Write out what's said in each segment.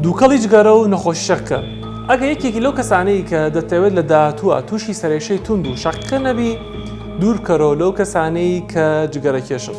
دووکەڵی جگەرە و نەخۆشی شەکرە، ئەگەر یەکێکی لەو کەسانەی کە دەتەوێت لە داهاتووە تووشی سەرێشەی توند و شەقیقە نەبی، دوور بکەرەوە لەو کەسانەی کە جگەرەکێشن.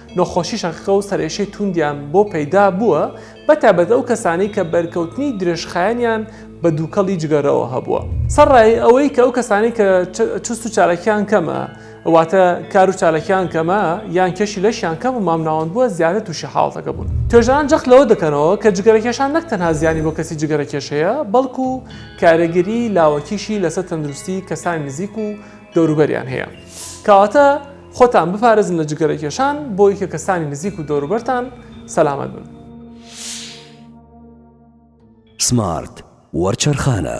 نەخۆشی شەقیقە و سەرئێشەی تووندیان بۆ پەیدا بووە، بەتایبەت ئەو کەسانەی کە بەرکەوتنی درێژخایەنیان بە دووکەڵی جگەرەوە هەبووە. سەرەڕای ئەوەی کە ئەو کەسانەی کە چست و چالاکییان کەمە، واتە کار و چالاکییان کەمە، یان کێشی لەشیان کەم و مامناوەند بووە، زیاتر تووشی حاڵەتەکە بوون. توێژەران جەخت لەوە دەکەنەوە کە جگەرەکێشان نەک تەنها زیانی بۆ کەسی جگەرەکێش هەیە، بەڵکو کارێگەریی لاوەکیشی لەسەر تەندروستیی کەسانی نزیک و دەوروبەریان هەیە. کەواتە. خۆتان بپارێزن لە جگەرەکێشان بۆ یکە کەسانی نزیک و دەوروبەرتان سەلامەت بن. سمارت وەرچەرخانە.